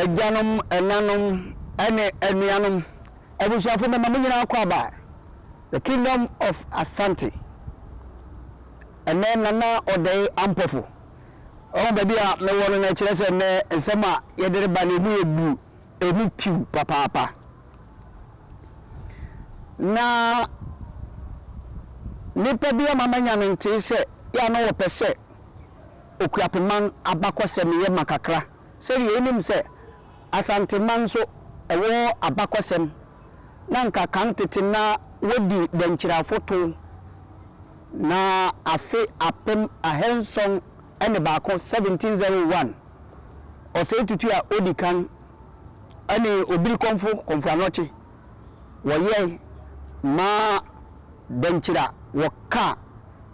agyanom, ɛnanom, ɛne anuanom, abusuafo mɛma mo nyinaa kɔ aba. The Kingdom of Asante. Ɛnɛ Nana Ɔdɛe Ampɔfo. Ɔho baabi a mewɔ no na ɛkyerɛ sɛ nnɛ nsɛm a yɛde reba no emu yɛ duru. Emu piw papaapa. Na nnipa bi ama manya no ntee sɛ yɛ a na wɔpɛ sɛ Okuapeman abakɔsɛm yɛ ma kakra. Sɛdeɛ wonim sɛ Asanteman nso wɔ abakɔsɛm na nka kan tete na wɔdi Dankyira afotow na afe apem ahanson ne baako, 1701, Ɔsɛe Tutu a Odi Kan ne Obiri Kɔmfo Kɔmfo Anɔkye, wɔyɛe maa dɛnkyira a wɔka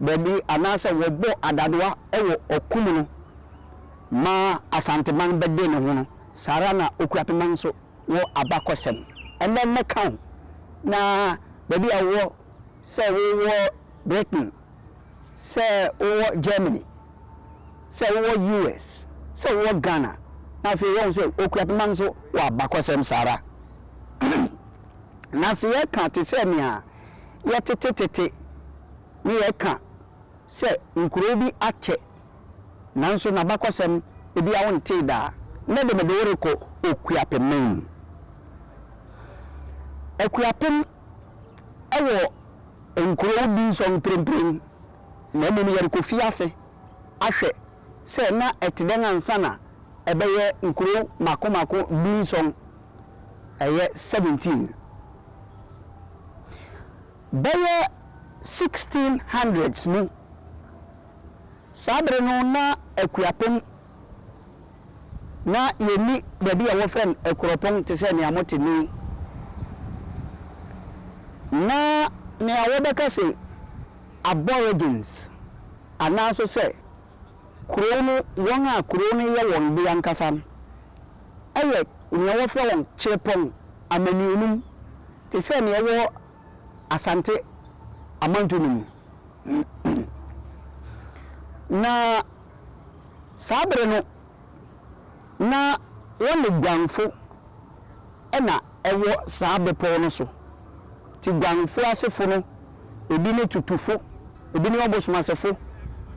baabi anaasɛ wɔbɔ adadoa wɔ ɔko mu no ma Asanteman bɛde ne ho no, saa ara na Okuapeman nso wɔ abakɔsɛm. Ɛnnɛ mɛka wo na baabi a wowɔ sɛ wowɔ Britain. Sɛ wowɔ Germany, sɛ wowɔ US, sɛ wowɔ Ghana, na afei woahu sɛ wokura poma nso wɔ abakɔsɛm saa ara. Na sɛ yɛka te sɛ nea yɛtete tete ne yɛka sɛ nkurow bi akyɛ nanso n'abakɔsɛm biara wontee da a, nnɛ de mede wo rekɔ Okuapeman mu. Akuapem wɔ Nkurow dunson mprempren, na mmom yɛrekofi ase ahwɛ sɛ na ɛte dɛn ansa na ɛbɛyɛ nkurow mmaako mmaako dunson, ɛyɛ seventeen. Bɛyɛ sixteen hundreds mu, saa bere no na akuapem na yɛnni baabi a wɔfrɛ no Akuropong te sɛ nea mote nnɛ yi. Ná nea wɔbɛka sɛ Aborigines anaa nso sɛ kurow no wɔn a kurow no yɛ wɔn de ankasa no yɛ nea wɔfrɛ wɔn Chirepong amaniɔnum te sɛ nea ɛwɔ Asante amantu no mu. Na saa bere no, na wɔne guanfo na ɛwɔ saa bepɔw no so. Enti guanfo asefo no, ebi ne tutufo, ebi ne ɔbosomasefo,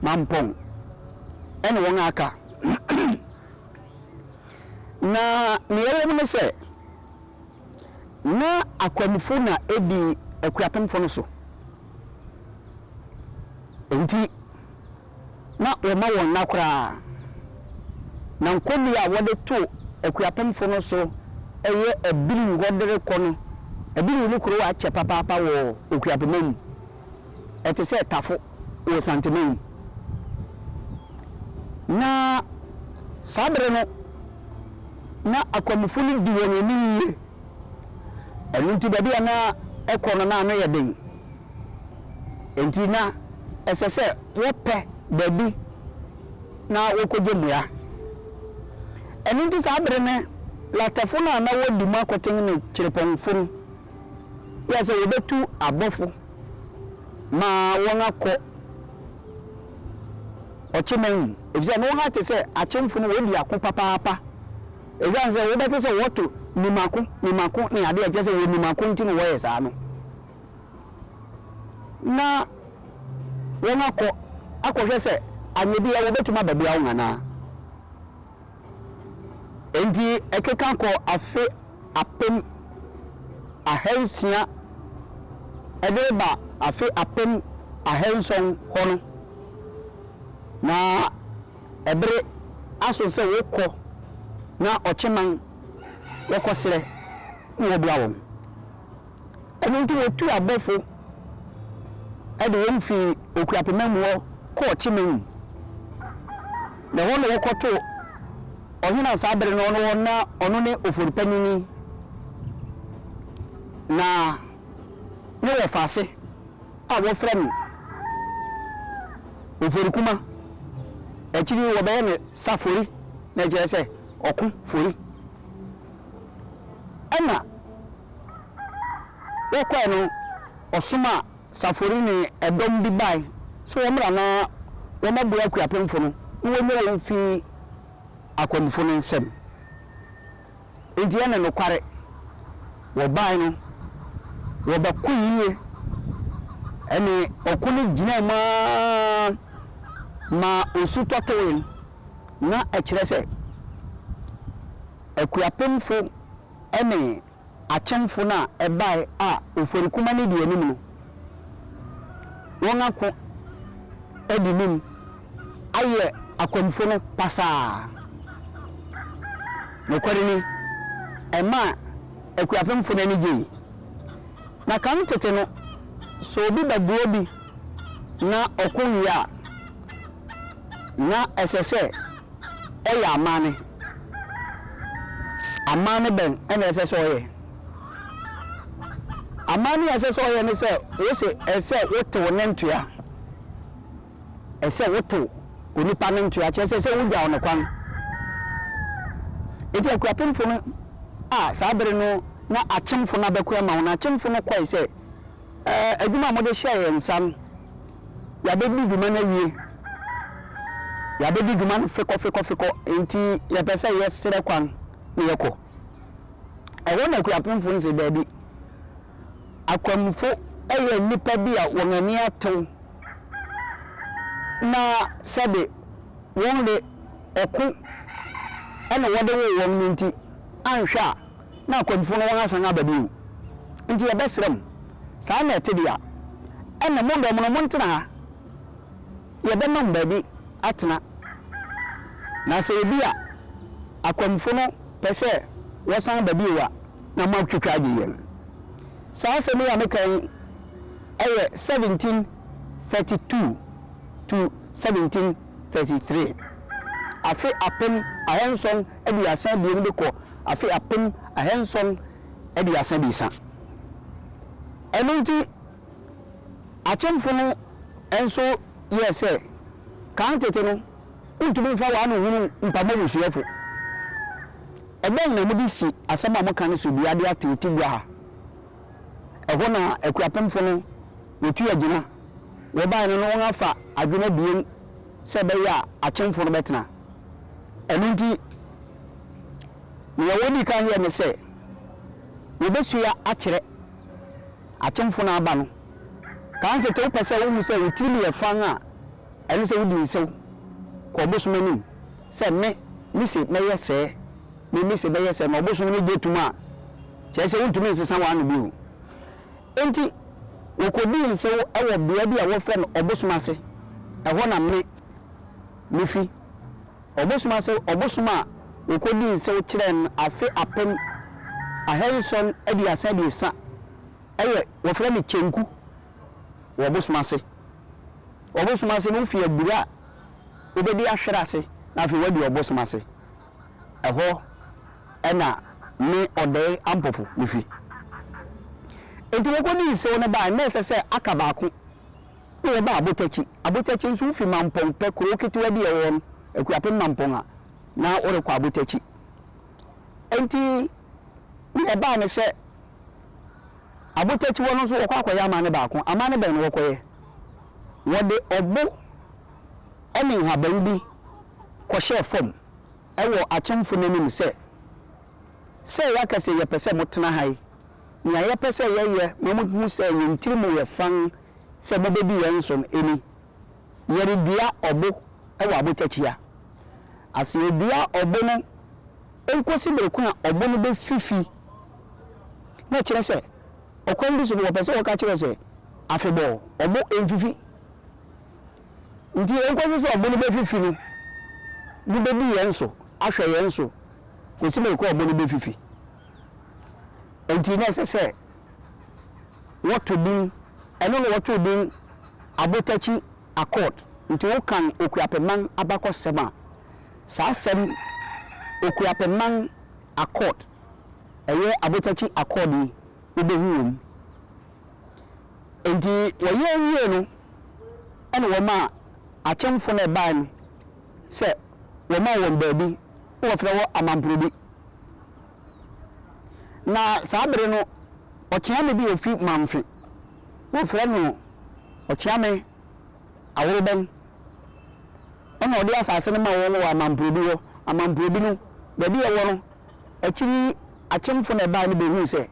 mampɔn ne wɔn a aka. Na nea ɛwom ne sɛ, Ná akwamufo na edi akuapemfo no so, enti na wɔmma wɔn nna koraa. Ná nkɔmbi a wɔde to akuapemfo no so yɛ Abiriw hɔ de rekɔ no, Abiriw ne kurow a akyɛ papaapa wɔ Okuapema mu. ɛte sɛ tafo wɔ Santema mu. Na saa bere no, na akwamufo no di wɔn ani yiye. Ɛno nti, baabi a na ɛkɔ no, na ano yɛ den. Enti na ɛsɛ sɛ wɔpɛ baabi na wɔkogye mmoa. Ɛno nti saa bere no, latɛfo no a na wodi mu akoten ne kyerepɔnfo no, Yɛ sɛ wɔbɛtu abɔfo ma wɔakɔ ɔkyeman mu, efisɛ na wɔate sɛ akyemfo no wɔadi ako papaapa. Esiane sɛ wobɛte sɛ wɔto nim ako, nim ako ne ade a ɛkyerɛ sɛ wɔnim ako nti na wɔyɛ saa no, na wɔakɔ akɔhwɛ sɛ anyɛ bi a wɔbɛtumi abɛboa wɔn anaa. Enti ɛkeka kɔ afe apem ahansia de reba afe apem ahanson hɔ no, na ɛbere aso sɛ wɔkɔ na ɔkyeman wɔkɔsrɛ na wɔboa wɔn. Ɛno nti wɔtuu abɔfo de wɔn fii Okuapema mu hɔ kɔɔ Chimeng, na ɛhɔ na wɔkɔtoo ɔhene a saa bere no ɔno hɔ na ɔno ne ofori panyin na ne wɔfaase a wɔfrɛ no Oforikuma. Akyiri yi wɔbɛyɛ no Safori, na ɛkyerɛ sɛ ɔko fori. Ɛna wɔkɔɛ no ɔsoma Safori ne ɛdɔm bi bae sɛ wɔmmra na wɔmmɛboa akuapemfo no na wɔnnya wɔn mfi akwamufo no nsam. Enti ɛne nokware, wɔbae no wɔbɛko yiye. Ɛne ɔko no gyinaa mu ara maa osu tɔtowee no. Ná ɛkyerɛ sɛ akuapemfo ne akyɛmfo no a ɛbae a ofori kuma no di anim no, wɔn ako adi nim ayɛ akwamufo no pasaa. Nokware ni, ɛmaa akuapemfo no ani gyei. Na kan tete no, sɛ obi bɛboa bi na ɔko wie a, na ɛsɛ sɛ ɔyɛ amanne. Amanne bɛn na ɛsɛ sɛ ɔyɛ? Amanne a ɛsɛ sɛ ɔyɛ ne sɛ, wose ɛsɛ sɛ wotew ne ntoa. ɛsɛ sɛ wotow onipa no ntoa, kyerɛ sɛ, ɛsɛ sɛ wugyaw no kwan. Enti akuapemfo no a saa bere no na akyemfo no abɛko ama wɔn no, akyemfo no kɔe sɛ, Ɛɛ, adwuma a mode hyɛɛ yɛn nsa no, yɛabedi dwuma no awie. Yɛabedi dwuma no fekɔfekɔfekɔ, enti yɛpɛ sɛ yɛsrɛ kwan na yɛkɔ. Ɛhɔ na akuapemfo no se, Dabi. Akwamufo yɛ nnipa bi a wɔn ani atew na sɛde wɔn de ɔko na wɔde woo wɔn no nti, anhwɛ a na akwamufo no wɔn asan aba bio. Nti yɛbɛsrɛ mo, saa na ɛte de a, ɛnna mo dɔm no montena ha. Yɛbɛma mo baabi atena. Na sɛ ebi a akwamufo no pɛ sɛ wɔsan ba bio a, na moatwitwa agye yɛn. Saa asɛm yi a meka yi yɛ 1732 to 1733, afe apem ahanson aduasa abien de kɔ afe apem ahanson aduasa abiɛsa. Ɛno nti, Akyemfo no nso yɛɛ sɛ kan tete no, wontumi mfa wɔn ano nhunu mpam abusuafo. Ɛdɛn na mode si asɛm a moka no so dua de atew ti gua ha? Ɛhɔ na akuapemfo no retu agyina. Wɔbae no na wɔafa adwene abien sɛ ɛbɛyɛ a akyemfo no bɛtena. Ɛno nti, nea wodii kan yɛe ne sɛ wobesua akyerɛ. Atomfo no aba no, kan tete wopɛ sɛ wohu sɛ wo tirim yɛ fann a, ɛne sɛ wodi nsew kɔ ɔbosom anim sɛ, Me, mise mɛyɛ sɛɛ, me, mise mɛyɛ sɛɛ, na ɔbosom no gye tom a, kyerɛ sɛ wontumi nsesa w'ano bio. Enti wokodii nsew wɔ beae bi a wɔfrɛ no ɔbosom ase, ɛhɔ na me, mifi. Ɔbosom ase ɔbosom a wɔkɔdii nsew kyerɛɛ no afe apem ahanson aduasa abiɛsa yɛ wɔfrɛ no Kyenku wɔ ɔbosom ase. Ɔbosom ase no wofi abura a wobɛdi ahwere ase na afei woadi ɔbosom ase. Ɛhɔ na me Ɔdɛe Ampofo no fi. Enti wɔkɔdii nsew no bae na ɛsɛ sɛ aka baako. na wɔbaa Abotakyi. Abotakyi nso, wofi Mampong pɛ, kurow ketewa bi a ɛwɔ hɔ no, Akuapem Mampong a, na worekɔ Abotakyi. Enti nea ɛbae ne sɛ, Abotakyi hɔ no nso wɔkɔ akɔyɛ amanne baako. Amanne bɛn na wɔkɔyɛ? Wɔde ɔbo ne nhaban bi kɔhyɛɛ fam wɔ akyemfo no anim sɛ, Sɛ yɛaka sɛ yɛpɛ sɛ motena ha yi, nea yɛpɛ sɛ yɛyɛ ma muhu sɛ yɛn tirim yɛ fann sɛ mobɛdi yɛn som ni, Yɛredua ɔbo wɔ abotwakyia ase. Yɛdua ɔbo no nkɔsi bere ko a ɔbo no bɛfifi. Na ɛkyerɛ sɛ, ɔkwan bi so no, wɔpɛ sɛ wɔka kyerɛ wo sɛ, afebɔɔ, ɔbo mfifi. Enti ɛnkɔsi sɛ ɔbo no bɛfifi no, mobɛdi yɛn so, ahwɛ yɛn so, kɔsi bere ko a ɔbo no bɛfifi. Enti na ɛsɛ sɛ wɔto din, ɛno na wɔtoo din Abotakyi Accord. Nti wokan Okuapɛman abakɔsɛm a, saa asɛm Okuapɛman Accord, ɛyɛ Abotakyi Accord yi, wobɛhu wɔ mu. Enti wɔyɛ wiee no, ɛna wɔmaa akyɛmfo no a ɛbaeɛ no sɛ wɔma wɔn baabi. na wɔfrɛ hɔ Amamprodi. Na saa bere no, ɔkyeame bi a ofi Mamfe, wɔfrɛ no Ɔkyeame Aworoben, ɛnna ɔde asase no maa wɔn wɔ Amamprodi hɔ. Amamprodi no, baabi a ɛwɔ no, akyiri yi akyemfo na ɛbae no behui sɛ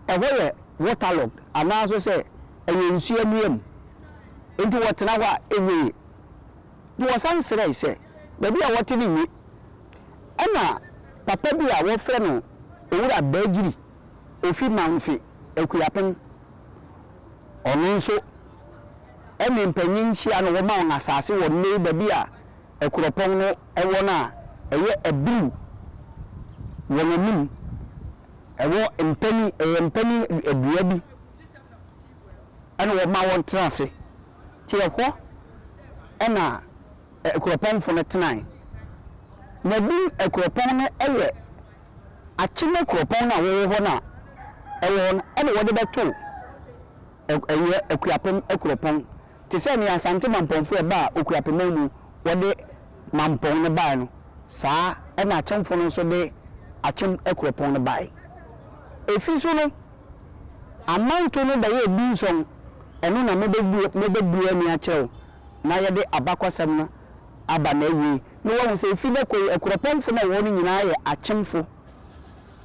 ɛhɔ yɛ waterlogged, anaa nso sɛ ɛyɛ nsu anwea mu, enti wɔtena hɔ a enye yiye. Na wɔsan srɛe sɛ baabi a wɔte no nye. Ɛnna papa bi a wɔfrɛ no Owura Baagyiri, ofi Mamfe, Akuapem, ɔno nso ne mpanyin hyia na wɔma wɔn asase wɔ nnɛyi baabi a akuropɔn no wɔ no a ɛyɛ Abiru wɔn anim. Ɛwɔ mpanin, ɛyɛ mpanin dua bi na wɔma wɔtra ase. Nti ɛhɔ na akuropɔnfo no tenae. Na din akuropɔn no yɛ Akyene kuropɔn no a wɔwɔ hɔ no a ɛwɔ hɔ no na wɔde bɛtoo ɛyɛ Akuapem akuropɔn te sɛ nea Asante Mampɔnfo a ɛbaa Okuapeman mu wɔde Mampɔn no bae no saa na Akyemfo no nso de Akyem akuropɔn no bae. Efi so no. Amanto no bɛyɛɛ dunson, ɛno na mobɛbue mobɛbue ani akyerɛ wo na yɛde abakɔsɛm no aba n'awiei na woahu sɛ ɛfiri nnɛ kɔ yi akuropɔnfo no a ɛwɔ hɔ no nyinaa yɛ akyemfo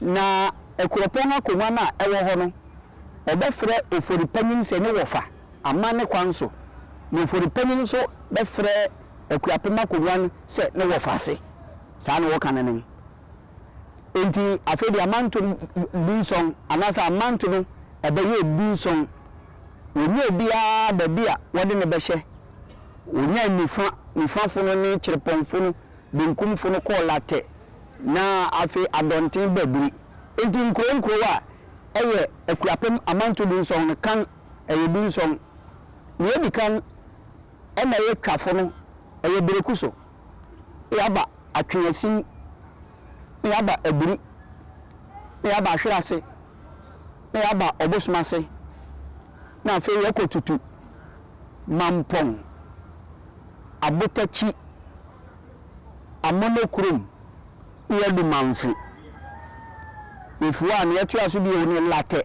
na akuropɔn akonnwa no a ɛwɔ hɔ no wɔbɛfrɛ ofori panyin sɛ ne wɔfa amanne kwan so na ofori panyin nso bɛfrɛ akuapem akonnwa no sɛ ne wɔfa ase saa na wɔka no nen. Enti afei de amanto no dunson, anaasɛ amanto no bɛyɛɛ dunson. Wɔnyaa obiara baabi a wɔde no bɛhyɛ. Wɔnyaa nifa nifafo no ne kyerɛpɔnfo no benkumfo no kɔɔ Latɛ, na afei Adɔnten baa Biri. Enti nkurow nkurow a ɛyɛ Akuapem amanto dunson no, kan ɛyɛ dunson. Nea edi kan na ɛyɛ Twafo no, ɛyɛ Bereku so. Yɛaba atweaasin, na yɛaba abiri, na yɛaba ahwere ase, na yɛaba ɔbosom ase, na afei yɛkɔtutu Mampong abotakyi, Amono kurom, na yɛadu Mamfe. Yɛfi hɔ a, nea ɛtoa so bio ne Larteh,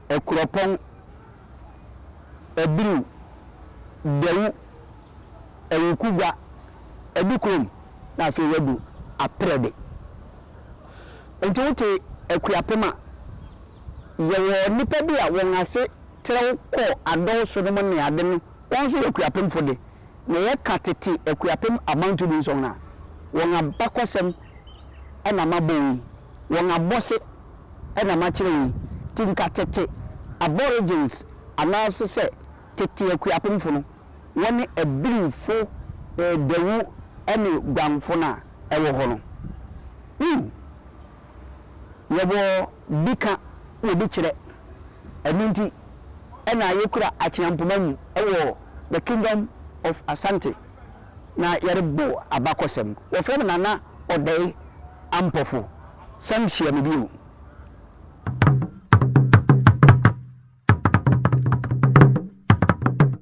Akuropong, Abiriw, Dawu. Awuku gua adu kurom na afei wadu Aprɛ de. Nti wote Akuapem a, yɛwɔ nnipa bi a wɔn ase trɛw kɔ Adɔw so nom ne ade no, wɔn nso yɛ Akuapemfo de. Na yɛka tete Akuapem Abanto Dunsɔn a, wɔn abakɔsɛm na mabɔ wo yi, wɔn abɔse na makyerɛ wo yi. Nti nka tete Aborigines anaasesɛ tete Akuapemfo no wɔne abirifo, dawu ne guanfo no a ɛwɔ hɔ no. Yiw, yɛwɔ bi ka wɔ bi kyerɛ. Ɛno nti na yekura akyea mpoma mu wɔ The Kingdom of Asante na yɛrebɔ abakɔsɛm. Wɔfrɛ me Nana Odei Ampofo. San hyia me bio.